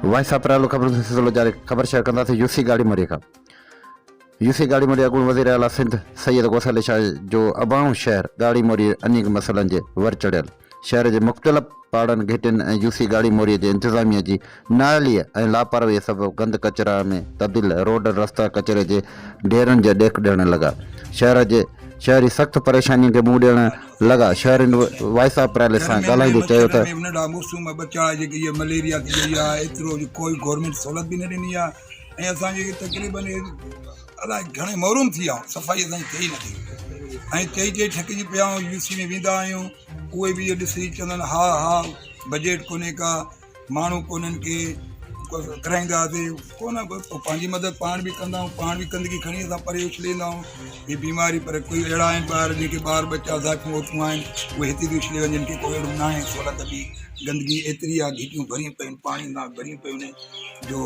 Voice of private خبرن سان سلسلو جاري خبر شيئر ڪنداسين يو سي گاڙي مري کان يو سي گاڙي مري اڳوڻي وزير اعليٰ سنڌ سيد غوث علي شاهه جو اباڻو شهر گاڙي موري انيڪ مسئلن جي ور چڙهيل شهر جي مختلف پاڙن، گهٽين ۽ يو سي ڳاڙهي موريء جي انتظاميه جي نااهليء ۽ لاپرواهيء سبب گند ڪچرا ۾ تبديل روڊن، رستا ڪچري جي ڍيرن جا ڏيک ڏيڻ لڳا. شهر جي شهري سخت پريشانين کي منهن ڏيڻ لڳا. شهرين وائس آف پريل سان ڳالهائيندي چيو ته. هن ڏانهن موسم ۾ ٻه چڙهائي جيڪي اها مليريا ٿي وئي آهي ايترو جو ڪوئي گورنمينٽ سهولت به نه ڏني آهي ۽ اسان جي تقريبن الاء گهڻي محروم ٿي ويا آهيون صفائي اسان جي ٿئي ئي نٿي ۽ چئي چئي ٿڪجي پيا آهيون يو سي ۾ ويندا آهيون اهي به اهو ڏسي چوندا آهن ها ها بجيٽ ڪونهي ڪا ماڻهو ڪونهن ڪي ڪرائينداسي ڪو نه ڪو پنهنجي مدد پاڻ بي ڪندا آهيون پاڻ بي گندگي کڻي اسان پري اڇلي ايندا آهيون هي بيماري پر ڪوئي اهڙا آهن ٻار جن کي ٻار ٻچا زائفون وائفون آهن اهي هتي بي اڇلي وڃن ڪي ڪو اهڙو ناهي سهولت بي گندگي ايتري آهي گهٽيون ڀريون پيون آهن پاڻي ناڪ ڀريون پيون آهن جو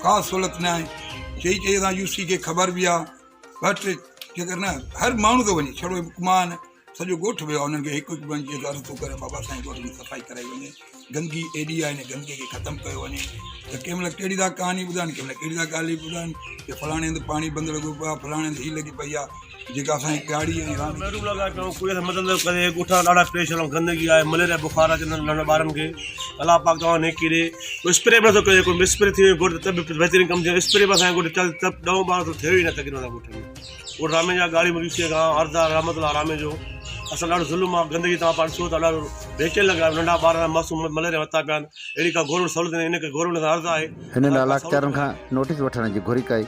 ڪا سھولت نه آھي چئي چئي اسان يو سي کي خبر به آ ٻه ٽي جيڪر نه ھر ماڻھو ٿو وڃي ڇڙو ھڪ مان نه سڄو ڳوٺ ويو آ انھن کي ھڪ ھڪ ٻئي جي گھر ٿو ڪري بابا سائين ڳوٺ جي صفائي ڪرائي وڃي گندگي ايڏي آ ھن گندگي کي ختم ڪيو وڃي ته ڪنھن مھل ڪھڙي ٿا ڪھاني ٻڌائين ڪنھن مھل ڪھڙي ٿا ڳالھي ٻڌائين ڪي فلاڻي ھنڌ پاڻي بند لڳو پيو آ فلاڻي ھنڌ ھي لڳي پئي آ جيڪا اسان جي پياري ۽ راند ٿي محروم لڳا پيا آهيون ڪوڙي سان مدد نه ڪري ڳوٺ سان ڏاڍا پريشان آهيون گندگي آهي مليريا بخار آهي ننڍن ننڍن ٻارن کي الله پاڪ توهان نيڪي ڏي ڪو اسپري به نٿو ڪري ڪو اسپري ٿي وڃي ڳوٺ ته به بهترين ڪم ٿيو اسپري به اسان جي ڳوٺ چل تپ ڏهون ٻارهون ته ٿيو ئي نه تقريبن اسان ڳوٺ ۾ ڳوٺ راميجا ڳاڙهي مليون سي گاهه اردا رحمت الله راميجو اسان ڏاڍو ظلم آهي گندگي توهان پاڻ ڏسو ته ڏاڍو بيچين لڳا آهيون ننڍا ٻار معصوم مليريا وتا پيا آهن اهڙي ڪا گورنمينٽ سهولت ڏي ان ڪري گورنمينٽ سان عرض آهي ھنن علاقچارن کان نوٽيس وٺڻ جي گھرج ڪئي